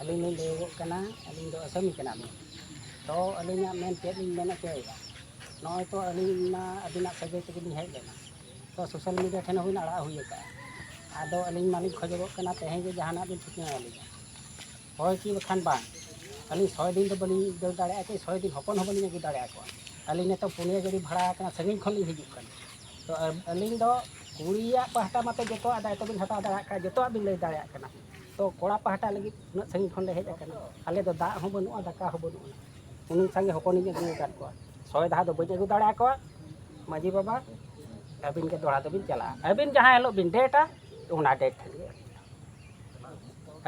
ᱟᱹᱞᱤᱧ ᱞᱤᱧ ᱞᱟᱹᱭᱚᱜᱚᱜ ᱠᱟᱱᱟ ᱟᱹᱞᱤᱧ ᱫᱚ ᱟᱥᱟᱢᱤ ᱠᱟᱱᱟᱞᱤᱧ ᱛᱚ ᱟᱹᱞᱤᱧᱟᱜ ᱢᱮᱱ ᱪᱮᱫ ᱞᱤᱧ ᱢᱮᱱ ᱦᱚᱪᱚᱭᱮᱫᱟ ᱱᱚᱜᱼᱚᱭ ᱛᱚ ᱟᱹᱞᱤᱧ ᱢᱟ ᱟᱹᱵᱤᱱᱟᱜ ᱥᱟᱹᱜᱟᱹᱭ ᱛᱮᱜᱮ ᱞᱤᱧ ᱦᱮᱡ ᱞᱮᱱᱟ ᱥᱳᱥᱟᱞ ᱢᱤᱰᱤᱭᱟ ᱴᱷᱮᱱ ᱦᱚᱸᱵᱤᱱ ᱟᱲᱟᱜ ᱦᱩᱭ ᱟᱠᱟᱫᱼᱟ ᱟᱫᱚ ᱟᱹᱞᱤᱧ ᱢᱟᱞᱤᱧ ᱠᱷᱚᱡᱚᱜᱚᱜ ᱠᱟᱱᱟ ᱛᱮᱦᱮᱧ ᱜᱮ ᱡᱟᱦᱟᱱᱟᱜ ᱵᱤᱱ ᱴᱷᱤᱠᱟᱹ ᱟᱹᱞᱤᱧᱟ ᱦᱳᱭ ᱠᱤ ᱵᱟᱠᱷᱟᱱ ᱵᱟᱝ ᱟᱹᱞᱤᱧ ᱥᱚᱭ ᱫᱤᱱ ᱫᱚ ᱵᱟᱹᱞᱤᱧ ᱫᱟᱹᱲ ᱫᱟᱲᱮᱭᱟᱜᱼᱟ ᱠᱤ ᱥᱚᱭ ᱫᱤᱱ ᱦᱚᱯᱚᱱ ᱦᱚᱸ ᱵᱟᱹᱞᱤᱧ ᱟᱹᱜᱩ ᱫᱟᱲᱮᱭᱟ ᱠᱚᱣᱟ ᱟᱹᱞᱤᱧ ᱱᱤᱛᱚᱜ ᱯᱩᱱᱭᱟᱹ ᱜᱟᱹᱰᱤ ᱵᱷᱟᱲᱟ ᱟᱠᱟᱱᱟ ᱥᱟᱺᱜᱤᱧ ᱠᱷᱚᱱ ᱞᱤᱧ ᱦᱤᱡᱩᱜ ᱠᱟᱱᱟ ᱛᱚ ᱟᱹᱞᱤᱧ ᱫᱚ ᱠᱩᱲᱤᱭᱟᱜ ᱯᱟᱦᱴᱟ ᱢᱟᱛᱚ ᱡᱚᱛᱚᱣᱟᱜ ᱫᱟᱭᱤᱛᱛᱚ ᱵᱤᱱ ᱦᱟᱛᱟᱣ ᱫᱟᱲᱮᱭᱟᱜ ᱠᱷᱟᱱ ᱡᱚᱛᱚᱣᱟᱜ ᱵᱤᱱ ᱞᱟᱹᱭ ᱫᱟᱲᱮᱭᱟᱜ ᱠᱟᱱᱟ ᱛᱚ ᱠᱚᱲᱟ ᱯᱟᱦᱴᱟ ᱞᱟᱹᱜᱤᱫ ᱩᱱᱟᱹᱜ ᱥᱟᱺᱜᱤᱧ ᱠᱷᱚᱱ ᱞᱮ ᱦᱮᱡ ᱟᱠᱟᱱᱟ ᱟᱞᱮ ᱫᱚ ᱫᱟᱜ ᱦᱚᱸ ᱵᱟᱹᱱᱩᱜᱼᱟ ᱫᱟᱠᱟ ᱦᱚᱸ ᱵᱟᱹᱱᱩᱜᱼᱟ ᱩᱱᱤ ᱥᱟᱸᱜᱮ ᱦᱚᱯᱚᱱᱤᱧ ᱟᱹᱜᱩ ᱟᱠᱟᱫ ᱠᱚᱣᱟ ᱥᱚᱭ ᱫᱟᱦᱟ ᱫᱚ ᱵᱟᱹᱧ ᱟᱹᱜᱩ ᱫᱟᱲᱮ ᱟᱠᱚᱣᱟ ᱢᱟᱺᱡᱷᱤ ᱵᱟᱵᱟ ᱟᱹᱵᱤᱱ ᱜᱮ ᱫᱚᱦᱲᱟ ᱫᱚᱵᱤᱱ ᱪᱟᱞᱟᱜᱼᱟ ᱟᱹᱵᱤᱱ ᱡᱟᱦᱟᱸ ᱦᱤᱞᱳᱜ ᱵᱤᱱ ᱰᱮᱴᱟ ᱚᱱᱟ ᱰᱮᱴ ᱴᱷᱮᱱ ᱜᱮ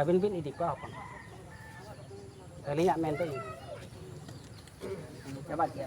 ᱟᱹᱵᱤᱱ ᱵᱤᱱ ᱤᱫᱤ ᱠᱚᱣᱟ ᱦᱚᱯᱚᱱ ᱟᱹᱞᱤᱧᱟᱜ ᱢᱮᱱ ᱫᱚ ᱤᱱᱟᱹ ᱪᱟᱵᱟ ᱠᱮᱜᱼᱟ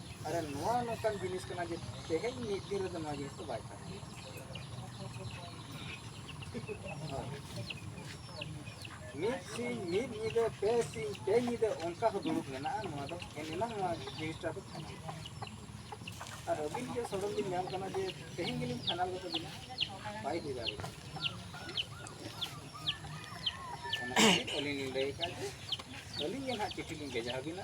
ᱟᱨ ᱱᱚᱣᱟ ᱱᱚᱝᱠᱟᱱ ᱡᱤᱱᱤᱥ ᱠᱟᱱᱟ ᱡᱮ ᱛᱮᱦᱮᱧ ᱢᱤᱫ ᱫᱤᱱ ᱨᱮᱫᱚ ᱱᱚᱣᱟ ᱡᱤᱱᱤᱥ ᱫᱚ ᱵᱟᱭ ᱛᱟᱦᱮᱱᱟ ᱢᱤᱫ ᱥᱤᱧ ᱢᱤᱫ ᱧᱤᱫᱟᱹ ᱯᱮ ᱥᱤᱧ ᱯᱮ ᱧᱤᱫᱟᱹ ᱚᱱᱠᱟ ᱦᱚᱸ ᱫᱩᱲᱩᱵ ᱢᱮᱱᱟᱜᱼᱟ ᱱᱚᱣᱟ ᱫᱚ ᱮᱱᱮᱞᱟᱝ ᱱᱚᱣᱟ ᱡᱤᱱᱤᱥᱴᱟ ᱫᱚ ᱯᱷᱟᱭᱱᱟᱞ ᱟᱨ ᱟᱹᱵᱤᱱ ᱜᱮ ᱥᱚᱰᱚᱱ ᱵᱤᱱ ᱧᱟᱢ ᱠᱟᱱᱟ ᱡᱮ ᱛᱮᱦᱮᱧ ᱜᱮᱞᱤᱧ ᱯᱷᱟᱭᱱᱟᱞ ᱠᱟᱛᱮ ᱵᱤᱱᱟ ᱵᱟᱭ ᱦᱩᱭ ᱫᱟᱲᱮᱭᱟᱜᱼᱟ ᱚᱱᱟ ᱠᱷᱟᱹᱛᱤᱨ ᱟᱹᱞᱤᱧ ᱞᱤᱧ ᱞᱟᱹᱭ ᱟᱠᱟᱫ ᱡᱮ ᱟᱹᱞᱤᱧ ᱜᱮ ᱱᱟᱦᱟᱜ ᱪᱤᱴᱷᱤ ᱞᱤᱧ ᱵᱷᱮᱡᱟ ᱟᱹᱵᱤᱱᱟ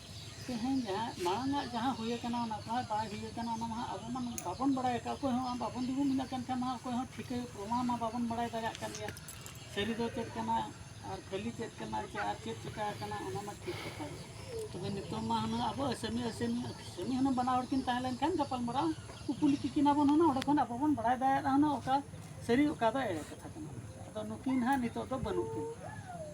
ᱛᱮᱦᱮᱧ ᱡᱟᱦᱟᱸ ᱢᱟᱲᱟᱝ ᱟᱜ ᱡᱟᱦᱟᱸ ᱦᱩᱭ ᱟᱠᱟᱱᱟ ᱚᱱᱟ ᱠᱚᱦᱚᱸ ᱵᱟᱭ ᱦᱩᱭ ᱟᱠᱟᱱᱟ ᱚᱱᱟ ᱢᱟ ᱟᱵᱚ ᱢᱟ ᱵᱟᱵᱚᱱ ᱵᱟᱲᱟᱭ ᱟᱠᱟᱫ ᱚᱠᱚᱭ ᱦᱚᱸ ᱵᱟᱵᱚᱱ ᱫᱩᱲᱩᱵ ᱢᱮᱱᱟᱜ ᱠᱟᱱ ᱠᱷᱟᱱ ᱢᱟ ᱚᱠᱚᱭ ᱦᱚᱸ ᱴᱷᱤᱠᱟᱹ ᱯᱨᱚᱢᱟᱱ ᱢᱟ ᱵᱟᱵᱚᱱ ᱵᱟᱲᱟᱭ ᱫᱟᱲᱮᱭᱟᱜ ᱠᱟᱱ ᱜᱮᱭᱟ ᱥᱟᱹᱨᱤ ᱫᱚ ᱪᱮᱫ ᱠᱟᱱᱟ ᱟᱨ ᱠᱷᱟᱹᱞᱤ ᱪᱮᱫ ᱠᱟᱱᱟ ᱪᱮ ᱟᱨ ᱪᱮᱫ ᱪᱤᱠᱟᱹ ᱟᱠᱟᱱᱟ ᱚᱱᱟ ᱢᱟ ᱴᱷᱤᱠ ᱠᱟᱛᱷᱟ ᱜᱮ ᱛᱚᱵᱮ ᱱᱤᱛᱚᱜ ᱢᱟ ᱦᱩᱱᱟᱹᱝ ᱟᱵᱚ ᱟᱹᱥᱟᱹᱢᱤ ᱟᱹᱥᱟᱹᱢᱤ ᱟᱹᱥᱟᱹᱢᱤ ᱦᱩᱱᱟᱹᱝ ᱵᱟᱱᱟ ᱦᱚᱲ ᱠᱤᱱ ᱛᱟᱦᱮᱸ ᱞᱮᱱᱠᱷᱟᱱ ᱜᱟᱯᱟᱞᱢᱟᱨᱟᱣ ᱠᱩᱯᱩᱞᱤ ᱠᱤᱠᱤᱱᱟ ᱵᱚᱱ ᱦᱩᱱᱟᱹᱝ ᱚᱸᱰᱮ ᱠᱷᱚᱱ ᱟᱵᱚ ᱵᱚᱱ ᱵᱟᱲᱟᱭ ᱫᱟᱲᱮᱭᱟᱜᱼᱟ ᱦᱩᱱᱟᱹᱝ ᱚᱠᱟ ᱥᱟᱹᱨᱤ ᱚᱠᱟ ᱫᱚ ᱮᱲᱮ ᱠᱟᱛᱷᱟ ᱠᱟᱱᱟ ᱟᱫᱚ ᱱᱩᱠᱤᱱ ᱦᱟᱸᱜ ᱱᱤᱛᱚᱜ ᱫᱚ ᱵᱟᱹᱱᱩᱜ ᱠᱤᱱᱟ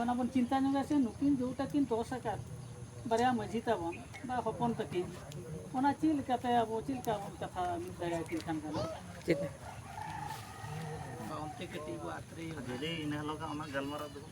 ᱚᱱᱟ ᱵᱚᱱ ᱪᱤᱱᱛᱟ ᱧᱚᱜᱟ ᱥᱮ ᱱᱩᱠᱤᱱ ᱡᱮᱴᱟ ᱠᱤᱱ ᱫᱚᱥ ᱟᱠᱟᱫ ᱵᱟᱨᱭᱟ ᱢᱟᱹᱡᱷᱤ ᱛᱟᱵᱚᱱ ᱵᱟ ᱦᱚᱯᱚᱱ ᱛᱟᱹᱠᱤᱱ ᱚᱱᱟ ᱪᱮᱫ ᱞᱮᱠᱟᱛᱮ ᱟᱵᱚ ᱪᱮᱫ ᱞᱮᱠᱟ ᱵᱚᱱ ᱠᱟᱛᱷᱟ ᱢᱤᱫ ᱫᱟᱲᱮᱭᱟᱠᱤᱱ ᱠᱷᱟᱱ ᱜᱟᱱᱚᱜᱼᱟ ᱪᱮᱫ ᱚᱱᱛᱮ ᱠᱟᱹᱴᱤᱡ ᱵᱚ ᱟᱛᱨᱮ ᱤᱱᱟᱹ ᱦᱤᱞᱳᱜ ᱚᱱᱟ ᱜᱟᱞᱢᱟᱨᱟᱣ ᱫᱚ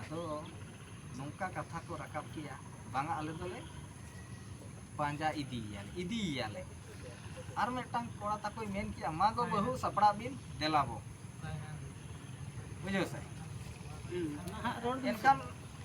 ᱟᱫᱚ ᱱᱚᱝᱠᱟ ᱠᱟᱛᱷᱟ ᱠᱚ ᱨᱟᱠᱟᱵ ᱠᱮᱜᱼᱟ ᱵᱟᱝᱟ ᱟᱞᱮ ᱫᱚᱞᱮ ᱯᱟᱸᱡᱟ ᱤᱫᱤᱭᱮᱭᱟᱞᱮ ᱤᱫᱤᱭᱮᱭᱟᱞᱮ ᱟᱨ ᱢᱤᱫᱴᱟᱝ ᱠᱚᱲᱟ ᱛᱟᱠᱚᱭ ᱢᱮᱱ ᱠᱮᱜᱼᱟ ᱢᱟ ᱜᱚ ᱵᱟᱹᱦᱩ ᱥᱟᱯᱲᱟᱣ ᱵᱤᱱ ᱫᱮᱞᱟ ᱵᱚ ᱵᱩᱡᱷᱟᱹᱣ ᱥᱮ ᱮᱱᱠᱷᱟᱱ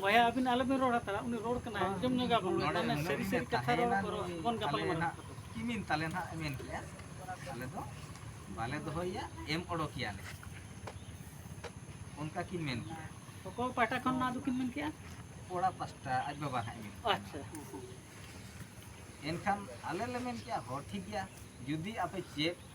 ᱵᱚᱭᱟ ᱟᱹᱵᱤᱱ ᱟᱞᱚᱵᱤᱱ ᱨᱚᱲ ᱦᱟᱛᱟᱲᱟ ᱩᱱᱤ ᱨᱚᱲ ᱠᱟᱱᱟᱭ ᱟᱸᱡᱚᱢ ᱧᱚᱜᱟ ᱵᱚᱱ ᱛᱟᱦᱚᱞᱮ ᱥᱟᱹᱨᱤ ᱥᱟᱹᱨᱤ ᱠᱟᱛᱷᱟ ᱨᱚᱲ ᱵᱚᱱ ᱜᱟᱯᱟᱞ ᱢᱟᱨᱟᱣ ᱠᱤᱢᱤᱱ ᱛᱟᱞᱮ ᱱᱟᱜ ᱢᱮᱱ ᱠᱮᱭᱟ ᱟᱞᱮ ᱫᱚ ᱵᱟᱞᱮ ᱫᱚᱦᱚᱭᱟ ᱮᱢ ᱚᱰᱚᱠᱮᱭᱟᱞᱮ ᱚᱱᱠᱟ ᱠᱤᱱ ᱢᱮᱱ ᱠᱮᱭᱟ ᱚᱠᱚᱭ ᱯᱟᱦᱴᱟ ᱠᱷᱚᱱ ᱱᱚᱣᱟ ᱫᱚᱠᱤᱱ ᱢᱮᱱ ᱠᱮᱜᱼᱟ ᱠᱚᱲᱟ ᱯᱟᱥᱴᱟ ᱟᱡ ᱵᱟᱵᱟ ᱦᱟᱸᱜ ᱢᱮᱱ ᱟᱪᱪᱷᱟ ᱮᱱᱠᱷᱟᱱ ᱟᱞᱮ ᱞᱮ ᱢᱮᱱ ᱠᱮᱜᱼᱟ ᱦᱚᱸ ᱴᱷᱤᱠ ᱜᱮᱭᱟ ᱡᱩᱫᱤ ᱟᱯᱮ ᱪᱮᱫ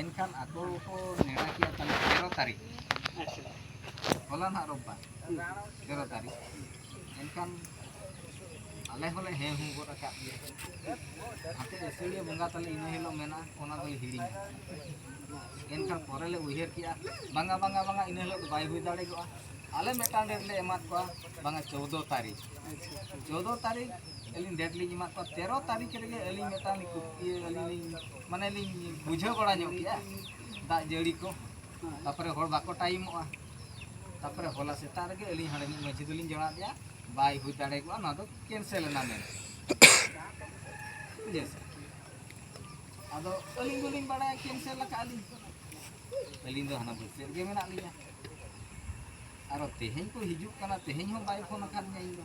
ᱮᱱᱠᱷᱟᱱ ᱟᱠᱚ ᱠᱚ ᱱᱮᱰᱟ ᱠᱮᱫᱼᱟ ᱛᱟᱦᱚᱞᱮ ᱛᱮᱨᱚ ᱛᱟᱹᱨᱤᱠᱷ ᱦᱚᱞᱟ ᱱᱟᱦᱟᱜ ᱨᱳᱵᱵᱟᱨ ᱛᱮᱨᱚ ᱛᱟᱹᱨᱤᱠᱷ ᱮᱱᱠᱷᱟᱱ ᱟᱞᱮ ᱦᱚᱸᱞᱮ ᱦᱮᱸ ᱦᱩᱸ ᱜᱚᱫ ᱟᱠᱟᱫ ᱜᱮᱭᱟ ᱱᱟᱛᱮ ᱟᱹᱥᱟᱹᱲᱤᱭᱟᱹ ᱵᱚᱸᱜᱟ ᱛᱟᱞᱮ ᱤᱱᱟᱹ ᱦᱤᱞᱳᱜ ᱢᱮᱱᱟᱜᱼᱟ ᱚᱱᱟ ᱫᱚᱞᱮ ᱦᱤᱲᱤᱧᱟ ᱮᱱᱠᱷᱟᱱ ᱯᱚᱨᱮ ᱞᱮ ᱩᱭᱦᱟᱹᱨ ᱠᱮᱫᱼᱟ ᱵᱟᱝᱟ ᱵᱟᱝᱟ ᱵᱟᱝᱟ ᱤᱱᱟᱹ ᱦᱤᱞᱳᱜ ᱫᱚ ᱵᱟᱭ ᱦᱩᱭ ᱫᱟᱲᱮᱭᱟᱜᱼᱟ ᱟᱞᱮ ᱢᱤᱫᱴᱟᱝ ᱰᱮᱴ ᱞᱮ ᱮᱢᱟᱫ ᱠᱚᱣᱟ ᱵᱟᱝᱟ ᱪᱳᱫᱽᱫᱳ ᱛᱟᱹᱨᱤᱠᱷ ᱪᱳᱫᱽᱫᱳ ᱛᱟᱹᱨᱤᱠᱷ ᱟᱹᱞᱤᱧ ᱰᱮᱴ ᱞᱤᱧ ᱮᱢᱟᱫ ᱠᱚᱣᱟ ᱛᱮᱨᱚ ᱛᱟᱹᱨᱤᱠᱷ ᱨᱮᱜᱮ ᱟᱹᱞᱤᱧ ᱢᱤᱫᱴᱟᱝ ᱤᱭᱟᱹ ᱟᱹᱞᱤᱧ ᱞᱤᱧ ᱢᱟᱱᱮ ᱞᱤᱧ ᱵᱩᱡᱷᱟᱹᱣ ᱵᱟᱲᱟ ᱧᱚᱜ ᱠᱮᱜᱼᱟ ᱫᱟᱜ ᱡᱟᱹᱲᱤ ᱠᱚ ᱛᱟᱯᱚᱨᱮ ᱦᱚᱲ ᱵᱟᱠᱚ ᱴᱟᱭᱤᱢᱚᱜᱼᱟ ᱛᱟᱯᱚᱨᱮ ᱦᱚᱞᱟ ᱥᱮᱛᱟᱜ ᱨᱮᱜᱮ ᱟᱹᱞᱤᱧ ᱦᱟᱸᱰᱮ ᱢᱤᱫ ᱢᱟᱺᱡᱷᱤ ᱫᱚᱞᱤᱧ ᱡᱚᱲᱟᱣ ᱟᱫᱮᱭᱟ ᱵᱟᱭ ᱦᱩᱭ ᱫᱟᱲᱮ ᱠᱚᱜᱼᱟ ᱱᱚᱣᱟ ᱫᱚ ᱠᱮᱱᱥᱮᱞ ᱮᱱᱟ ᱢᱮᱱ ᱵᱩᱡᱷᱟᱹᱣ ᱥᱮ ᱟᱫᱚ ᱟᱹᱞᱤᱧ ᱫᱚᱞᱤᱧ ᱵᱟᱲᱟᱭᱟ ᱠᱮᱱᱥᱮᱞ ᱟᱠᱟᱫ ᱞᱤᱧ ᱟᱹᱞᱤᱧ ᱫᱚ ᱦᱟᱱᱟ ᱵᱟᱹᱥᱭᱟᱹ ᱨᱮᱜᱮ ᱢᱮᱱᱟᱜ ᱞᱤᱧᱟ ᱟᱨᱚ ᱛᱮᱦᱮᱧ ᱠᱚ ᱦᱤᱡᱩᱜ ᱠᱟᱱᱟ ᱛᱮᱦᱮᱧ ᱦᱚᱸ ᱵᱟᱭ ᱯᱷᱳᱱ ᱟᱠᱟᱫᱤᱧᱟ ᱤᱧ ᱫᱚ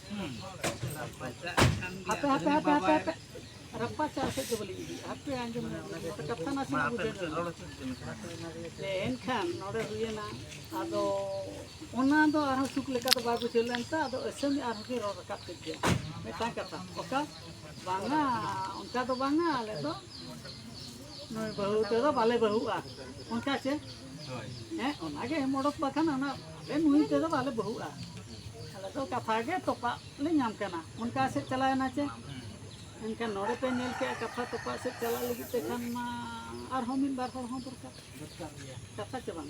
ᱦᱟᱯᱮ ᱦᱟᱯᱮ ᱦᱟᱯᱮ ᱦᱟᱯᱮ ᱦᱟᱯᱮ ᱨᱟᱯᱟ ᱪᱟᱞ ᱥᱮᱫ ᱫᱚ ᱵᱟᱹᱞᱤᱧ ᱤᱫᱤᱭᱟ ᱦᱟᱯᱮ ᱟᱸᱡᱚᱢ ᱠᱟᱛᱷᱟ ᱱᱟᱥᱮ ᱵᱩᱡᱷᱟᱹᱣ ᱮᱱᱠᱷᱟᱱ ᱱᱚᱰᱮ ᱦᱩᱭᱮᱱᱟ ᱟᱫᱚ ᱚᱱᱟ ᱫᱚ ᱟᱨᱦᱚᱸ ᱥᱩᱠ ᱞᱮᱠᱟ ᱫᱚ ᱵᱟᱭ ᱵᱩᱡᱷᱟᱹᱣ ᱞᱮᱱ ᱛᱮ ᱟᱫᱚ ᱟᱹᱥᱟᱹᱢᱤ ᱟᱨᱦᱚᱸ ᱠᱤᱱ ᱨᱚᱲ ᱨᱟᱠᱟᱵ ᱠᱮᱫ ᱜᱮᱭᱟ ᱢᱤᱫᱴᱟᱝ ᱠᱟᱛᱷᱟ ᱚᱠᱟ ᱵᱟᱝᱟ ᱚᱱᱠᱟ ᱫᱚ ᱵᱟᱝᱟ ᱟᱞᱮ ᱫᱚ ᱱᱩᱭ ᱵᱟᱹᱦᱩ ᱛᱮᱫᱚ ᱵᱟᱞᱮ ᱵᱟᱹᱦᱩᱜᱼᱟ ᱚᱱᱠᱟ ᱪᱮ ᱦᱮᱸ ᱚᱱᱟᱜᱮ ᱮᱢ ᱚᱰᱚᱠ ᱵᱟᱠᱷᱟᱱ ᱚᱱᱟ ᱟᱞᱮ ᱱᱩᱭ ᱛᱮᱫᱚ ᱵᱟᱞᱮ ᱵᱟᱹᱦᱩᱜᱼᱟ ᱟᱞᱮ ᱫᱚ ᱠᱟᱛᱷᱟ ᱜᱮ ᱛᱚᱯᱟᱜ ᱞᱮ ᱧᱟᱢ ᱠᱟᱱᱟ ᱚᱱᱠᱟ ᱥᱮᱫ ᱪᱟᱞᱟᱣᱮᱱᱟ ᱪᱮ ᱮᱱᱠᱷᱟᱱ ᱱᱚᱰᱮ ᱯᱮ ᱧᱮᱞ ᱠᱮᱜᱼᱟ ᱠᱟᱛᱷᱟ ᱛᱚᱯᱟᱜ ᱥᱮᱫ ᱪᱟᱞᱟᱜ ᱞᱟᱹᱜᱤᱫ ᱛᱮ ᱠᱷᱟᱱ ᱢᱟ ᱟᱨᱦᱚᱸ ᱢᱤᱫ ᱵᱟᱨ ᱦᱚᱲ ᱦᱚᱸ ᱫᱚᱨᱠᱟᱨ ᱠᱟᱛᱷᱟ ᱪᱮ ᱵᱟᱝ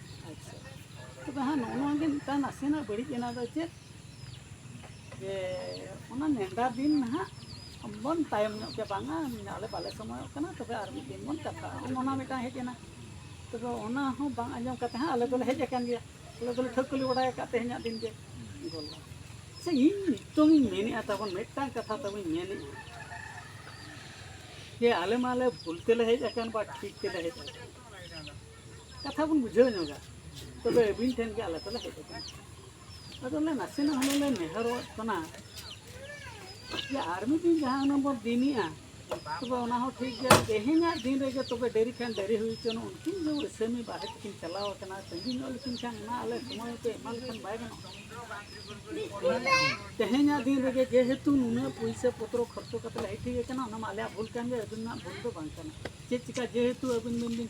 ᱟᱪᱪᱷᱟ ᱛᱚᱵᱮ ᱦᱟᱸᱜ ᱱᱚᱜᱼᱚ ᱱᱚᱣᱟ ᱜᱮ ᱢᱤᱫᱴᱟᱝ ᱱᱟᱥᱮᱱᱟᱜ ᱵᱟᱹᱲᱤᱡ ᱮᱱᱟ ᱫᱚ ᱪᱮᱫ ᱡᱮ ᱚᱱᱟ ᱱᱮᱰᱟ ᱫᱤᱱ ᱱᱟᱦᱟᱜ ᱵᱚᱱ ᱛᱟᱭᱚᱢ ᱧᱚᱜ ᱠᱮᱭᱟ ᱵᱟᱝᱟ ᱟᱞᱮ ᱵᱟᱞᱮ ᱥᱚᱢᱚᱭᱚᱜ ᱠᱟᱱᱟ ᱛᱚᱵᱮ ᱟᱨ ᱢᱤᱫ ᱫᱤᱱ ᱵᱚᱱ ᱠᱟᱛᱷᱟᱜᱼᱟ ᱚᱱᱟ ᱢᱤᱫᱴᱟᱝ ᱦᱮᱡ ᱮᱱᱟ ᱛᱚᱵᱮ ᱚᱱᱟ ᱦᱚᱸ ᱵᱟᱝ ᱟᱸᱡᱚᱢ ᱠᱟᱛᱮ ᱦᱟᱸᱜ ᱟᱞᱮ ᱫᱚᱞᱮ ᱦᱮᱡ ᱟᱠᱟᱱ ᱜᱮᱭᱟ ᱟᱞᱮ ᱫᱚᱞᱮ ᱴᱷᱟᱹᱣᱠᱟᱹ ᱞᱮ ᱵᱟᱰᱟᱭ ᱟᱠᱟᱫ ᱛᱮᱦᱮᱧᱟᱜ ᱫᱤᱱ ᱜᱮ ᱜᱚᱞᱟ ᱥᱮ ᱤᱧ ᱱᱤᱛᱚᱝ ᱤᱧ ᱢᱮᱱᱮᱫᱼᱟ ᱛᱟᱵᱚᱱ ᱢᱤᱫᱴᱟᱝ ᱠᱟᱛᱷᱟ ᱛᱟᱵᱚᱧ ᱢᱮᱱᱮᱫᱼᱟ ᱡᱮ ᱟᱞᱮ ᱢᱟᱞᱮ ᱵᱷᱩᱞ ᱛᱮᱞᱮ ᱦᱮᱡ ᱟᱠᱟᱱ ᱵᱟ ᱴᱷᱤᱠ ᱛᱮᱞᱮ ᱦᱮᱡ ᱟᱠᱟᱱ ᱠᱟᱛᱷᱟ ᱵᱚᱱ ᱵᱩᱡᱷᱟᱹᱣ ᱧᱚᱜᱟ ᱛᱚᱵᱮ ᱟᱹᱵᱤᱱ ᱴᱷᱮᱱ ᱜᱮ ᱟᱞᱮ ᱫᱚᱞᱮ ᱦᱮᱡ ᱟᱠᱟᱱᱟ ᱟᱫᱚ ᱞᱮ ᱱᱟᱥᱮᱱᱟᱜ ᱦᱩᱱᱟᱹᱝ ᱞᱮ ᱱᱮᱦᱚᱨᱚᱜ ᱠᱟᱱᱟ ᱡᱮ ᱟᱨ ᱢᱤᱫ ᱫᱤᱱ ᱡᱟᱦᱟᱸ ᱦᱩᱱᱟᱹᱝ ᱵᱚᱱ ᱫᱤᱱᱮᱜᱼᱟ ᱛᱚᱵᱮ ᱚᱱᱟ ᱦᱚᱸ ᱴᱷᱤᱠ ᱜᱮᱭᱟ ᱛᱮᱦᱮᱧᱟᱜ ᱫᱤᱱ ᱨᱮᱜᱮ ᱛᱚᱵᱮ ᱰᱮᱨᱤ ᱠᱷᱟᱱ ᱰᱮᱨᱤ ᱦᱩᱭ ᱦᱚᱪᱚᱱ ᱩᱱᱠᱤᱱ ᱫᱚ ᱟᱹᱥᱟᱹᱢᱤ ᱵᱟᱦᱮᱨ ᱠᱤᱱ ᱪᱟᱞᱟᱣ ᱟᱠᱟᱱᱟ ᱛᱟᱺᱜᱤ ᱧᱚᱜ ᱞᱮᱠᱤᱱ ᱠᱷᱟᱱ ᱚᱱᱟ ᱟᱞᱮ ᱥᱚᱢᱚᱭ ᱯᱮ ᱮᱢᱟ ᱞᱮᱠᱷᱟᱱ ᱵᱟᱭ ᱜᱟᱱᱚᱜᱼᱟ ᱛᱮᱦᱮᱧᱟᱜ ᱫᱤᱱ ᱨᱮᱜᱮ ᱡᱮᱦᱮᱛᱩ ᱱᱩᱱᱟᱹᱜ ᱯᱩᱭᱥᱟᱹ ᱯᱚᱛᱨᱚ ᱠᱷᱚᱨᱪᱚ ᱠᱟᱛᱮ ᱞᱮ ᱦᱮᱡ ᱴᱷᱤᱠ ᱟᱠᱟᱱᱟ ᱚᱱᱟ ᱢᱟ ᱟᱞᱮᱭᱟᱜ ᱵᱷᱩᱞ ᱠᱟᱱ ᱜᱮᱭᱟ ᱟᱹᱵᱤᱱᱟᱜ ᱵᱷᱩᱞ ᱫᱚ ᱵᱟᱝ ᱠᱟᱱᱟ ᱪᱮᱫ ᱪᱤᱠᱟ ᱡᱮᱦᱮᱛᱩ ᱟᱹᱵᱤᱱ ᱵᱤᱱ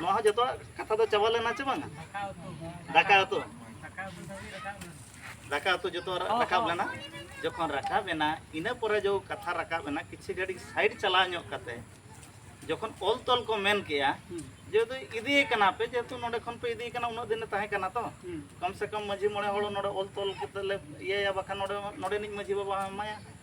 ᱱᱚᱣᱟ ᱦᱚᱸ ᱡᱚᱛᱚᱣᱟᱜ ᱠᱟᱛᱷᱟ ᱫᱚ ᱪᱟᱵᱟ ᱞᱮᱱᱟ ᱪᱮ ᱵᱟᱝᱟ ᱫᱟᱠᱟ ᱩᱛᱩ ᱫᱟᱠᱟ ᱩᱛᱩ ᱡᱚᱛᱚ ᱨᱟᱠᱟᱵ ᱞᱮᱱᱟ ᱡᱚᱠᱷᱚᱱ ᱨᱟᱠᱟᱵ ᱮᱱᱟ ᱤᱱᱟᱹ ᱯᱚᱨᱮ ᱡᱚ ᱠᱟᱛᱷᱟ ᱨᱟᱠᱟᱵ ᱮᱱᱟ ᱠᱤᱪᱷᱩ ᱜᱷᱟᱹᱲᱤᱡ ᱥᱟᱭᱤᱰ ᱪᱟᱞᱟᱣ ᱧᱚᱜ ᱠᱟᱛᱮ ᱡᱚᱠᱷᱚᱱ ᱚᱞ ᱛᱚᱞ ᱠᱚ ᱢᱮᱱ ᱠᱮᱜᱼᱟ ᱡᱮᱦᱮᱛᱩ ᱤᱫᱤᱭᱮ ᱠᱟᱱᱟ ᱯᱮ ᱡᱮᱦᱮᱛᱩ ᱱᱚᱰᱮ ᱠᱷᱚᱱ ᱯᱮ ᱤᱫᱤᱭᱮ ᱠᱟᱱᱟ ᱩᱱᱟᱹᱜ ᱫᱤᱱᱮ ᱛᱟᱦᱮᱸ ᱠᱟᱱᱟ ᱛᱚ ᱠᱚᱢ ᱥᱮ ᱠᱚᱢ ᱢᱟᱺᱡᱷᱤ ᱢᱚᱬᱮ ᱦᱚᱲ ᱱᱚᱰᱮ ᱚᱞ ᱛᱚᱞ ᱠᱟᱛᱮ ᱞᱮ ᱤᱭᱟᱹᱭᱟ ᱵᱟᱠᱷᱟᱱ ᱱᱚᱰᱮ ᱱᱚᱰᱮᱱᱤᱡ ᱢᱟᱺᱡᱷᱤ ᱵᱟᱵᱟ ᱦᱚᱸ ᱮᱢᱟᱭᱟ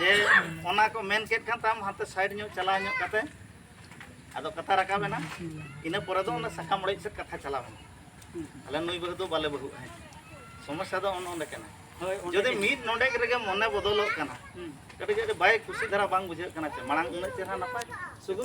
ᱡᱮ ᱚᱱᱟ ᱠᱚ ᱢᱮᱱ ᱠᱮᱫ ᱠᱷᱟᱱ ᱛᱟᱢ ᱦᱟᱱᱛᱮ ᱥᱟᱭᱤᱰ ᱧᱚᱜ ᱪᱟᱞᱟᱣ ᱧᱚᱜ ᱠᱟᱛᱮ ᱟᱫᱚ ᱠᱟᱛᱷᱟ ᱨᱟᱠᱟᱵ ᱮᱱᱟ ᱤᱱᱟᱹ ᱯᱚᱨᱮ ᱫᱚ ᱚᱱᱟ ᱥᱟᱠᱟᱢ ᱚᱲᱮᱡ ᱥᱮᱫ ᱠᱟᱛᱷᱟ ᱪᱟᱞᱟᱣ ᱮᱱᱟ ᱟᱞᱮ ᱱᱩᱭ ᱵᱟᱹᱦᱩ ᱫᱚ ᱵᱟᱞᱮ ᱵᱟᱹᱦᱩᱜᱼᱟ ᱦᱮᱸ ᱥᱚᱢᱚᱥᱥᱟ ᱫᱚ ᱚᱱ ᱚᱸᱰᱮ ᱠᱟᱱᱟ ᱡᱩᱫᱤ ᱢᱤᱫ ᱱᱚᱰᱮ ᱨᱮᱜᱮ ᱢᱚᱱᱮ ᱵᱚᱫᱚᱞᱚᱜ ᱠᱟᱱᱟ ᱠᱟᱹᱴᱤᱡ ᱠᱟᱹᱴᱤᱡ ᱵᱟᱭ ᱠᱩᱥᱤ ᱫᱷᱟᱨᱟ ᱵᱟᱝ ᱵᱩᱡᱷᱟᱹᱜ ᱠᱟᱱᱟ ᱪᱮ ᱢᱟᱲᱟᱝ ᱩᱱᱟᱹᱜ ᱪᱮᱦᱨᱟ ᱱᱟᱯᱟᱭ ᱥᱩᱫᱷᱩ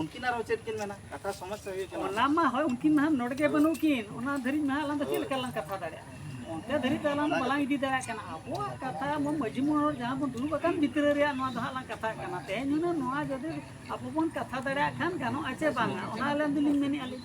ᱩᱱᱠᱤᱱ ᱟᱨᱦᱚᱸ ᱪᱮᱫ ᱠᱤᱱ ᱢᱮᱱᱟ ᱠᱟᱛᱷᱟ ᱥᱚᱢᱚᱥᱥᱟ ᱦᱩᱭᱩᱜ ᱠᱟᱱᱟ ᱚᱱᱟ ᱢᱟ ᱦᱳᱭ ᱩᱱᱠᱤᱱ ᱢᱟ ᱱᱚᱰᱮ ᱜᱮ ᱵᱟᱹᱱᱩᱜ ᱠᱤᱱ ᱚᱱᱟ ᱫᱷᱟᱹᱨᱤᱡ ᱢᱟ ᱟᱞᱟᱝ ᱫᱚ ᱪᱮᱫ ᱞᱮᱠᱟ ᱞᱟᱝ ᱠᱟᱛᱷᱟ ᱫᱟᱲᱮᱭᱟᱜᱼᱟ ᱚᱱᱛᱮ ᱫᱷᱟᱹᱨᱤᱡ ᱫᱚ ᱟᱞᱟᱝ ᱵᱟᱞᱟᱝ ᱤᱫᱤ ᱫᱟᱲᱮᱭᱟᱜ ᱠᱟᱱᱟ ᱟᱵᱚᱣᱟᱜ ᱠᱟᱛᱷᱟ ᱢᱟ ᱢᱟᱺᱡᱷᱤ ᱢᱚᱬᱮ ᱦᱚᱲ ᱡᱟᱦᱟᱸ ᱵᱚᱱ ᱫᱩᱲᱩᱵ ᱟᱠᱟᱱ ᱵᱷᱤᱛᱨᱤ ᱨᱮᱭᱟᱜ ᱱᱚᱣᱟ ᱫᱚ ᱦᱟᱸᱜ ᱞᱟᱝ ᱠᱟᱛᱷᱟᱜ ᱠᱟᱱᱟ ᱛᱮᱦᱮᱧ ᱦᱩᱱᱟᱹᱝ ᱱᱚᱣᱟ ᱡᱩᱫᱤ ᱟᱵᱚ ᱵᱚᱱ ᱠᱟᱛᱷᱟ ᱫᱟᱲᱮᱭᱟᱜ ᱠᱷᱟᱱ ᱜᱟᱱᱚᱜᱼᱟ ᱪᱮ ᱵᱟᱝᱟ ᱚᱱᱟ ᱟᱞᱟᱝ ᱫᱚᱞᱤᱧ ᱢᱮᱱᱮᱫᱼᱟ ᱞᱤᱧ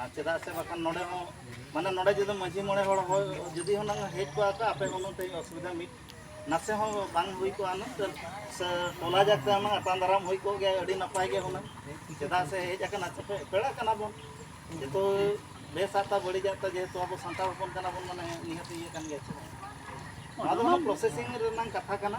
ᱟᱨ ᱪᱮᱫᱟᱜ ᱥᱮ ᱵᱟᱠᱷᱟᱱ ᱱᱚᱰᱮ ᱦᱚᱸ ᱢᱟᱱᱮ ᱱᱚᱰᱮ ᱡᱩᱫᱤ ᱢᱟᱺᱡᱷᱤ ᱢᱚᱬᱮ ᱦᱚᱲ ᱦᱚᱭ ᱡᱩᱫᱤ ᱦᱚᱸ ᱱᱟᱝ ᱦᱮᱡ ᱠᱚᱜᱼᱟ ᱠᱚ ᱟᱯᱮ ᱦᱚᱸ ᱛᱮᱦᱮᱧ ᱚᱥᱩᱵᱤᱫᱷᱟ ᱢᱤᱫ ᱱᱟᱥᱮ ᱦᱚᱸ ᱵᱟᱝ ᱦᱩᱭ ᱠᱚᱜᱼᱟ ᱱᱟᱝ ᱥᱮ ᱴᱚᱞᱟ ᱡᱟᱠ ᱛᱮ ᱱᱟᱝ ᱟᱛᱟᱝ ᱫᱟᱨᱟᱢ ᱦᱩᱭ ᱠᱚᱜ ᱜᱮᱭᱟ ᱟᱹᱰᱤ ᱱᱟᱯᱟᱭ ᱜᱮ ᱦᱩᱱᱟᱹᱝ ᱪᱮᱫᱟᱜ ᱥᱮ ᱦᱮᱡ ᱟᱠᱟᱱᱟ ᱪᱮᱯᱮ ᱯᱮᱲᱟ ᱠᱟᱱᱟ ᱵᱚᱱ ᱡᱮᱛᱩ ᱵᱮᱥ ᱟᱛᱟ ᱵᱟᱹᱲᱤᱡ ᱟᱛᱟ ᱡᱮᱦᱮᱛᱩ ᱟᱵᱚ ᱥᱟᱱᱛᱟᱲ ᱦᱚᱯᱚᱱ ᱠᱟᱱᱟ ᱵᱚᱱ ᱢᱟᱱᱮ ᱱᱤᱦᱟᱹᱛ ᱤᱭᱟᱹ ᱠᱟᱱ ᱜᱮᱭᱟ ᱪᱮ ᱱᱚᱣᱟ ᱫᱚ ᱯᱨᱚᱥᱮᱥᱤᱝ ᱨᱮᱱᱟᱝ ᱠᱟᱛᱷᱟ ᱠᱟᱱᱟ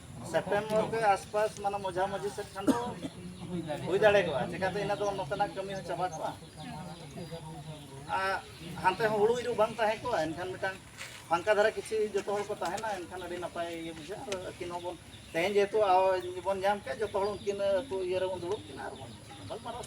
ᱥᱮᱯᱴᱮᱢᱵᱚᱨ ᱠᱚ ᱟᱥᱯᱟᱥ ᱢᱟᱱᱮ ᱢᱚᱡᱷᱟ ᱢᱚᱡᱷᱤ ᱥᱮᱫ ᱠᱷᱟᱱ ᱫᱚ ᱦᱩᱭ ᱫᱟᱲᱮ ᱠᱚᱜᱼᱟ ᱪᱮᱠᱟᱛᱮ ᱤᱱᱟᱹ ᱫᱚ ᱱᱚᱛᱮᱱᱟᱜ ᱠᱟᱹᱢᱤ ᱦᱚᱸ ᱪᱟᱵᱟ ᱠᱚᱜᱼᱟ ᱦᱟᱱᱛᱮ ᱦᱚᱸ ᱦᱩᱲᱩ ᱤᱨᱩ ᱵᱟᱝ ᱛᱟᱦᱮᱸ ᱠᱚᱜᱼᱟ ᱮᱱᱠᱷᱟᱱ ᱢᱤᱫᱴᱟᱝ ᱯᱷᱟᱝᱠᱟ ᱫᱷᱟᱨᱟ ᱠᱤᱪᱷᱩ ᱡᱚᱛᱚ ᱦᱚᱲ ᱠᱚ ᱛᱟᱦᱮᱱᱟ ᱮᱱᱠᱷᱟᱱ ᱟᱹᱰᱤ ᱱᱟᱯᱟᱭ ᱤᱭᱟᱹ ᱵᱩᱡᱷᱟᱹᱜᱼᱟ ᱟᱨ ᱟᱹᱠᱤᱱ ᱦᱚᱸᱵᱚᱱ ᱛᱮᱦᱮᱧ ᱡᱮᱦᱮᱛᱩ ᱵᱚᱱ ᱧᱟᱢ ᱠᱮᱫ ᱡᱚᱛᱚ ᱦᱚᱲ ᱩᱱᱠᱤᱱ ᱟᱹᱛᱩ ᱤᱭᱟᱹ ᱨᱮᱵᱚᱱ ᱫᱩᱲᱩᱵ ᱠᱤᱱᱟ ᱟᱨ ᱵᱚᱱ ᱜᱟᱞᱢᱟᱨᱟᱣ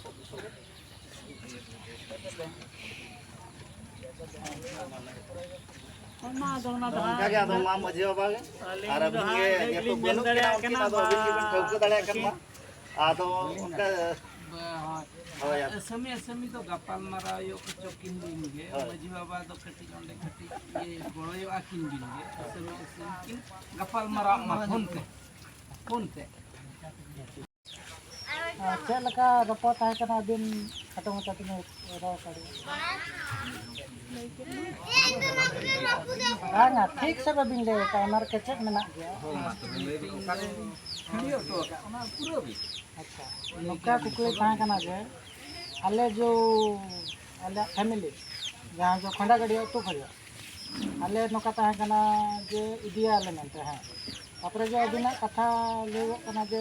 ᱥᱟᱹᱢᱤ ᱥᱟᱹᱢᱤ ᱫᱚ ᱜᱟᱯᱟᱞ ᱢᱟᱨᱟᱣ ᱦᱩᱭᱩᱜ ᱠᱚᱪᱚ ᱠᱤᱱ ᱫᱤᱱ ᱜᱮ ᱢᱟᱹᱡᱷᱤ ᱵᱟᱵᱟ ᱫᱚ ᱠᱟᱹᱴᱤᱡ ᱚᱸᱰᱮ ᱠᱟᱹᱴᱤᱡ ᱜᱚᱲᱚᱭᱚᱜᱼᱟ ᱠᱤᱱ ᱫᱤᱱ ᱜᱮ ᱥᱟᱹᱢᱤ ᱥᱟᱹᱢᱤ ᱠᱤᱱ ᱜᱟᱯᱟᱞ ᱢᱟᱨᱟᱣ ᱢᱟ ᱯᱷᱳᱱ ᱛᱮ ᱯᱷᱳᱱ ᱛᱮ ᱪᱮᱫ ᱞᱮᱠᱟ ᱨᱚᱯᱚᱲ ᱛᱟᱦᱮᱸ ᱠᱟᱱᱟ ᱟᱹᱵᱤᱱ ᱠᱷᱟᱴᱚ ᱢᱟᱪᱷᱟ ᱛᱮᱵᱤᱱ ᱨᱚᱲ ᱵᱟᱝᱟ ᱴᱷᱤᱠ ᱥᱮ ᱵᱟᱹᱵᱤᱱ ᱞᱟᱹᱭ ᱟᱠᱟᱫ ᱚᱱᱟ ᱨᱮ ᱠᱮᱪᱮᱫ ᱢᱮᱱᱟᱜ ᱜᱮᱭᱟ ᱟᱪᱪᱷᱟ ᱱᱚᱝᱠᱟ ᱠᱩᱠᱞᱤ ᱛᱟᱦᱮᱸ ᱠᱟᱱᱟ ᱡᱮ ᱟᱞᱮ ᱡᱚ ᱟᱞᱮᱭᱟᱜ ᱯᱷᱮᱢᱮᱞᱤ ᱡᱟᱦᱟᱸ ᱫᱚ ᱠᱷᱚᱸᱰᱟ ᱜᱟᱹᱰᱤᱭᱟᱹ ᱟᱹᱛᱩ ᱠᱷᱚᱱᱟᱜ ᱟᱞᱮ ᱱᱚᱝᱠᱟ ᱛᱟᱦᱮᱸ ᱠᱟᱱᱟ ᱡᱮ ᱤᱫᱤᱭᱟᱞᱮ ᱢᱮᱱᱛᱮ ᱦᱮᱸ ᱛᱟᱯᱚᱨᱮ ᱡᱮ ᱟᱹᱵᱤᱱᱟᱜ ᱠᱟᱛᱷᱟ ᱞᱟᱹᱭᱚᱜ ᱠᱟᱱᱟ ᱡᱮ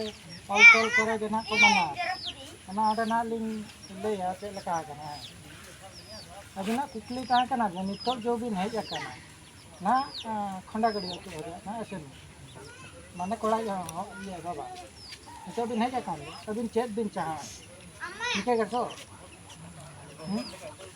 ᱚᱞ ᱛᱚᱞ ᱠᱚᱨᱮ ᱜᱮ ᱱᱟᱦᱟᱜ ᱠᱚ ᱢᱟᱱᱟᱣᱟ ᱚᱱᱟ ᱚᱸᱰᱮ ᱱᱟᱦᱟᱜ ᱞᱤᱧ ᱞᱟᱹᱭᱟ ᱪᱮᱫ ᱞᱮᱠᱟ ᱟᱠᱟᱱᱟ ᱦᱮᱸ ᱟᱹᱵᱤᱱᱟᱜ ᱠᱩᱠᱞᱤ ᱛᱟᱦᱮᱸ ᱠᱟᱱᱟ ᱡᱮ ᱱᱤᱛᱚᱜ ᱡᱮ ᱵᱤᱱ ᱦᱮᱡ ᱟᱠᱟᱱᱟ ᱱᱟᱦᱟᱜ ᱠᱷᱚᱸᱰᱟᱜᱟᱹᱲᱤ ᱟᱹᱛᱩ ᱨᱮ ᱱᱟᱦᱟᱜ ᱮᱥᱮᱱ ᱢᱟᱱᱮ ᱠᱚᱲᱟ ᱤᱭᱟᱹ ᱵᱟᱵᱟ ᱱᱤᱛᱚᱜ ᱵᱤᱱ ᱦᱮᱡ ᱟᱠᱟᱱ ᱟᱹᱵᱤᱱ ᱪᱮᱫ ᱵᱤᱱ ᱪᱟᱦᱟᱣᱟ ᱴᱷᱤᱠᱟᱹ ᱜᱮᱛᱚ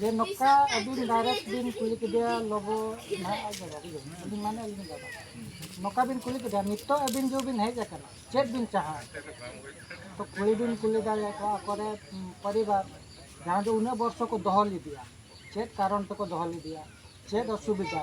ᱡᱮ ᱱᱚᱠᱟ ᱟᱹᱵᱤᱱ ᱰᱟᱭᱨᱮᱠᱴ ᱵᱤᱱ ᱠᱩᱞᱤ ᱠᱮᱫᱮᱭᱟ ᱞᱚᱵᱚ ᱱᱟᱦᱟᱜ ᱟᱡ ᱵᱟᱵᱟ ᱟᱹᱞᱤᱧ ᱢᱟᱱᱮ ᱟᱹᱞᱤᱧ ᱵᱟᱵᱟ ᱱᱚᱠᱟ ᱵᱤᱱ ᱠᱩᱞᱤ ᱠᱮᱫᱮᱭᱟ ᱱᱤᱛᱚᱜ ᱟᱹᱵᱤᱱ ᱡᱮ ᱵᱤᱱ ᱦᱮᱡ ᱟᱠᱟᱱᱟ ᱪᱮᱫ ᱵᱤᱱ ᱪᱟᱦᱟ ᱛᱚ ᱠᱩᱞᱤ ᱵᱤᱱ ᱠᱩᱞᱤ ᱫᱟᱲᱮᱭᱟ ᱠᱚᱣᱟ ᱟᱠᱚᱨᱮ ᱯᱚᱨᱤᱵᱟᱨ ᱡᱟᱦᱟᱸ ᱫᱚ ᱩᱱᱟᱹᱜ ᱵᱚᱨᱥᱚ ᱠᱚ ᱫᱚᱦᱚ ᱞᱮᱫᱮᱭᱟ ᱪᱮᱫ ᱠᱟᱨᱚᱱ ᱛᱮᱠᱚ ᱫᱚᱦᱚ ᱞᱮᱫᱮᱭᱟ ᱪᱮᱫ ᱚᱥᱩᱵᱤᱫᱷᱟ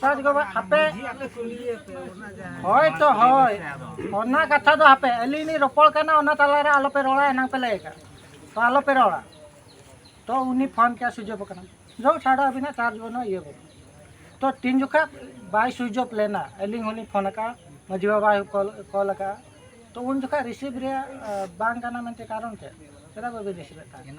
ᱥᱚᱨᱚᱡᱽ ᱜᱚᱜᱚ ᱟᱯᱮ ᱦᱳᱭ ᱛᱚ ᱦᱳᱭ ᱚᱱᱟ ᱠᱟᱛᱷᱟ ᱫᱚ ᱟᱯᱮ ᱟᱹᱞᱤᱧ ᱞᱤᱧ ᱨᱚᱯᱚᱲ ᱠᱟᱱᱟ ᱚᱱᱟ ᱛᱟᱞᱟᱨᱮ ᱟᱞᱚᱯᱮ ᱨᱚᱲᱟ ᱮᱱᱟᱝ ᱯᱮ ᱞᱟᱹᱭ ᱟᱠᱟᱫ ᱛᱚ ᱟᱞᱚᱯᱮ ᱨᱚᱲᱟ ᱛᱚ ᱩᱱᱤ ᱯᱷᱳᱱ ᱠᱮᱫ ᱥᱩᱭᱤᱪ ᱚᱯᱷ ᱟᱠᱟᱱᱟ ᱡᱚ ᱪᱷᱟᱲᱟ ᱟᱹᱵᱤᱱᱟᱜ ᱪᱟᱨᱡᱽ ᱵᱟᱹᱱᱩᱜᱼᱟ ᱤᱭᱟᱹ ᱵᱟᱹᱱᱩᱜᱼᱟ ᱛᱚ ᱛᱤᱱ ᱡᱚᱠᱷᱟ ᱵᱟᱭ ᱥᱩᱭᱤᱪ ᱚᱯᱷ ᱞᱮᱱᱟ ᱟᱹᱞᱤᱧ ᱦᱚᱸᱞᱤᱧ ᱯᱷᱳᱱ ᱟᱠᱟᱫᱼᱟ ᱢᱟᱹᱡᱷᱤ ᱵᱟᱵᱟᱭ ᱠᱚᱞ ᱟᱠᱟᱫᱼᱟ ᱛᱚ ᱩᱱ ᱡᱚᱠᱷᱟ ᱨᱤᱥᱤᱵᱷ ᱨᱮᱭᱟᱜ ᱵᱟᱝ ᱠᱟᱱᱟ ᱢᱮᱱᱛᱮ ᱠᱟᱨᱚᱱ ᱪᱮᱫ ᱪᱮᱫᱟᱜ ᱵᱟᱹᱵᱤᱱ ᱨᱤᱥᱤᱵᱷ ᱮᱫ ᱛᱟᱦᱮᱸᱫ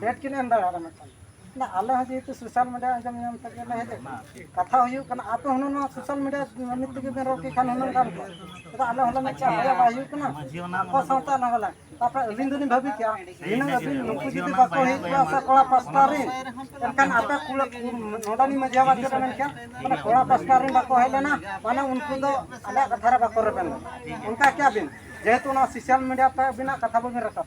ᱰᱮᱴ ᱠᱤᱱ ᱮᱢ ᱫᱟᱲᱮᱭᱟᱜᱼᱟ ᱢᱤᱫᱴᱟᱝ ᱱᱟ ᱟᱞᱮ ᱦᱚᱸ ᱡᱮᱦᱮᱛᱩ ᱥᱳᱥᱟᱞ ᱢᱤᱰᱤᱭᱟ ᱟᱸᱡᱚᱢ ᱧᱟᱢ ᱛᱮᱜᱮ ᱞᱮ ᱦᱮᱡ ᱟᱠᱟᱱᱟ ᱠᱟᱛᱷᱟ ᱦᱩᱭᱩᱜ ᱠᱟᱱᱟ ᱟᱯᱮ ᱦᱚᱸ ᱱᱚᱣᱟ ᱥᱳᱥᱟᱞ ᱢᱤᱰᱤᱭᱟ ᱢᱤᱫ ᱛᱮᱜᱮ ᱵᱮᱱ ᱨᱚᱲ ᱠᱮ ᱠᱷᱟᱱ ᱦᱩᱱᱟᱹᱝ ᱜᱟᱱ ᱠᱚᱜᱼᱟ ᱪᱮᱫᱟᱜ ᱟᱞᱮ ᱦᱚᱸᱞᱮ ᱢᱮᱱ ᱠᱮᱜᱼᱟ ᱦᱳᱭᱟ ᱵᱟᱭ ᱦᱩᱭᱩᱜ ᱠᱟᱱᱟ ᱟᱠᱚ ᱥᱟᱶᱛᱮ ᱟᱞᱟᱝ ᱦᱚᱸᱞᱟᱝ ᱛᱟᱯᱚᱨᱮ ᱟᱹᱞᱤᱧ ᱫᱚᱞᱤᱧ ᱵᱷᱟᱹᱵᱤ ᱠᱮᱜᱼᱟ ᱱᱤᱱᱟᱹᱜ ᱟᱹᱵᱤᱱ ᱱᱩᱠᱩ ᱡᱩᱫᱤ ᱵᱟᱠᱚ ᱦᱮᱡ ᱠᱚᱜᱼᱟ ᱥᱮ ᱠᱚᱲᱟ ᱯᱟᱥᱴᱟ ᱨᱮᱱ ᱮᱱᱠᱷᱟᱱ ᱟᱯᱮ ᱠᱩᱲᱟ ᱱᱚᱰᱮᱱᱤᱡ ᱢᱟᱹᱡᱷᱤ ᱵᱟᱵᱟ ᱪᱮᱫ ᱮ ᱢᱮᱱ ᱠᱮᱜᱼᱟ ᱢᱟᱱᱮ ᱠᱚᱲᱟ ᱯᱟᱥᱴᱟ ᱨᱮᱱ ᱵᱟᱠᱚ ᱦᱮᱡ ᱞᱮᱱᱟ ᱢᱟᱱᱮ ᱩᱱᱠᱩ ᱫᱚ ᱟᱞᱮᱭᱟᱜ ᱠᱟᱛᱷᱟ ᱨᱮ ᱵᱟᱠᱚ ᱨᱮᱵᱮᱱ ᱞᱮᱱᱟ ᱚᱱᱠᱟ ᱠᱮᱜᱼᱟ ᱵᱤᱱ ᱡᱮᱦᱮᱛᱩ ᱚᱱᱟ ᱥᱳᱥᱟᱞ ᱢᱤᱰᱤᱭᱟ ᱛᱮ ᱟᱹᱵᱤᱱᱟᱜ ᱠᱟᱛᱷᱟ ᱵᱟᱹᱵᱤᱱ ᱨᱟᱠᱟᱵ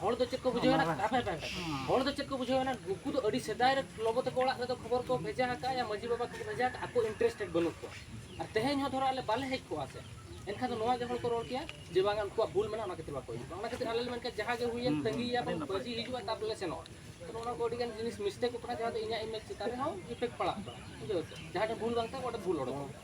ᱦᱚᱲ ᱫᱚ ᱪᱮᱫ ᱠᱚ ᱵᱩᱡᱷᱟᱹᱣ ᱮᱱᱟ ᱦᱟᱯᱮ ᱦᱟᱯᱮ ᱦᱚᱲ ᱫᱚ ᱪᱮᱫ ᱠᱚ ᱵᱩᱡᱷᱟᱹᱣ ᱮᱱᱟ ᱩᱱᱠᱩ ᱫᱚ ᱟᱹᱰᱤ ᱥᱮᱫᱟᱭ ᱨᱮ ᱞᱚᱜᱚ ᱛᱟᱠᱚ ᱚᱲᱟᱜ ᱨᱮᱫᱚ ᱠᱷᱚᱵᱚᱨ ᱠᱚ ᱵᱷᱮᱡᱟ ᱟᱠᱟᱫᱼᱟ ᱭᱟ ᱢᱟᱺᱡᱷᱤ ᱵᱟᱵᱟ ᱠᱚ ᱵᱷᱮᱡᱟ ᱟᱠᱟᱫ ᱟᱠᱚ ᱤᱱᱴᱟᱨᱮᱥᱴᱮᱰ ᱵᱟᱹᱱᱩᱜ ᱠᱚᱣᱟ ᱟᱨ ᱛᱮᱦᱮᱧ ᱦᱚᱸ ᱫᱷᱚᱨᱚ ᱟᱞᱮ ᱵᱟᱞᱮ ᱦᱮᱡ ᱠᱚᱜᱼᱟ ᱥᱮ ᱮᱱᱠᱷᱟᱱ ᱫᱚ ᱱᱚᱣᱟ ᱜᱮ ᱦᱚᱲ ᱠᱚ ᱨᱚᱲ ᱠᱮᱭᱟ ᱡᱮ ᱵᱟᱝ ᱩᱱᱠᱩᱣᱟᱜ ᱵᱷᱩᱞ ᱢᱮᱱᱟᱜᱼᱟ ᱚᱱᱟ ᱠᱷᱟᱹᱛᱤᱨ ᱵᱟᱠᱚ ᱦᱤᱡᱩᱜᱼᱟ ᱚᱱᱟ ᱠᱷᱟᱹᱛᱤᱨ ᱟᱞᱮ ᱞᱮ ᱢᱮᱱ ᱠᱮᱫ ᱡᱟᱦᱟᱸ ᱜᱮ ᱦᱩᱭᱮᱱ ᱛᱟᱺᱜᱤᱭᱟ ᱵᱚᱱ ᱢᱟᱺᱡᱷᱤ ᱦᱤᱡᱩᱜᱼᱟ ᱛᱟᱨᱯᱚᱨ ᱞᱮ ᱥᱮᱱᱚᱜᱼᱟ ᱛᱚ ᱱᱚᱣᱟ ᱠᱚ ᱟᱹᱰᱤᱜᱟᱱ ᱡᱤᱱᱤᱥ ᱢᱤᱥᱴᱮᱠᱚᱜ ᱠᱟᱱᱟ ᱡᱟᱦᱟᱸ ᱫᱚ ᱤᱧᱟᱹᱜ ᱤᱢᱮᱡᱽ ᱪᱮᱛᱟᱱ ᱨᱮᱦᱚᱸ ᱤᱯᱷᱮᱠᱴ ᱯᱟᱲᱟᱜ ᱠᱟᱱᱟ ᱵᱩᱡᱷᱟᱹᱣ ᱥᱮ ᱡᱟᱦᱟᱸ ᱴᱷᱮᱱ ᱵᱷᱩᱞ ᱵᱟᱝ ᱛᱟᱦᱮᱸ ᱚᱸᱰᱮ ᱵᱷᱩᱞ ᱚᱰᱚᱠᱚᱜ ᱠᱟᱱᱟ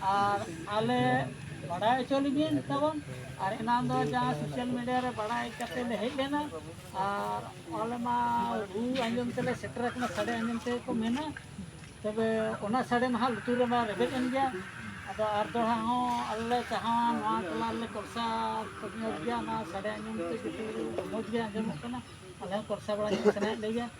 ᱟᱨ ᱟᱞᱮ ᱵᱟᱰᱟᱭ ᱦᱚᱪᱚ ᱞᱮᱵᱤᱱ ᱛᱟᱵᱚᱱ ᱟᱨ ᱮᱱᱟᱱ ᱫᱚ ᱡᱟᱦᱟᱸ ᱥᱳᱥᱟᱞ ᱢᱤᱰᱤᱭᱟ ᱨᱮ ᱵᱟᱰᱟᱭ ᱠᱟᱛᱮ ᱞᱮ ᱦᱮᱡ ᱞᱮᱱᱟ ᱟᱨ ᱟᱞᱮ ᱢᱟ ᱨᱩ ᱟᱸᱡᱚᱢ ᱛᱮᱞᱮ ᱥᱮᱴᱮᱨ ᱟᱠᱟᱱᱟ ᱥᱟᱰᱮ ᱟᱸᱡᱚᱢ ᱛᱮᱜᱮ ᱠᱚ ᱢᱮᱱᱟ ᱛᱚᱵᱮ ᱚᱱᱟ ᱥᱟᱰᱮ ᱢᱟ ᱦᱟᱸᱜ ᱞᱩᱛᱩᱨ ᱨᱮᱢᱟ ᱨᱮᱵᱮᱫ ᱮᱱ ᱜᱮᱭᱟ ᱟᱫᱚ ᱟᱨ ᱫᱚᱲᱦᱟ ᱦᱚᱸ ᱟᱞᱮ ᱞᱮ ᱪᱟᱦᱟᱣᱟ ᱱᱚᱣᱟ ᱴᱚᱞᱟ ᱨᱮᱞᱮ ᱠᱚᱞᱥᱟ ᱧᱚᱜ ᱜᱮᱭᱟ ᱱᱚᱣᱟ ᱥᱟᱰᱮ ᱟᱸᱡᱚᱢ ᱛᱮ ᱡᱚᱛᱚ ᱢᱚᱡᱽ ᱜᱮ ᱟᱸᱡᱚᱢᱚᱜ ᱠᱟᱱᱟ ᱟᱞᱮ ᱦᱚᱸ ᱠᱚᱞᱥᱟ ᱵᱟᱲᱟ ᱧᱚᱜ ᱥᱟᱱᱟᱭᱮᱫ ᱞᱮᱜᱮᱭᱟ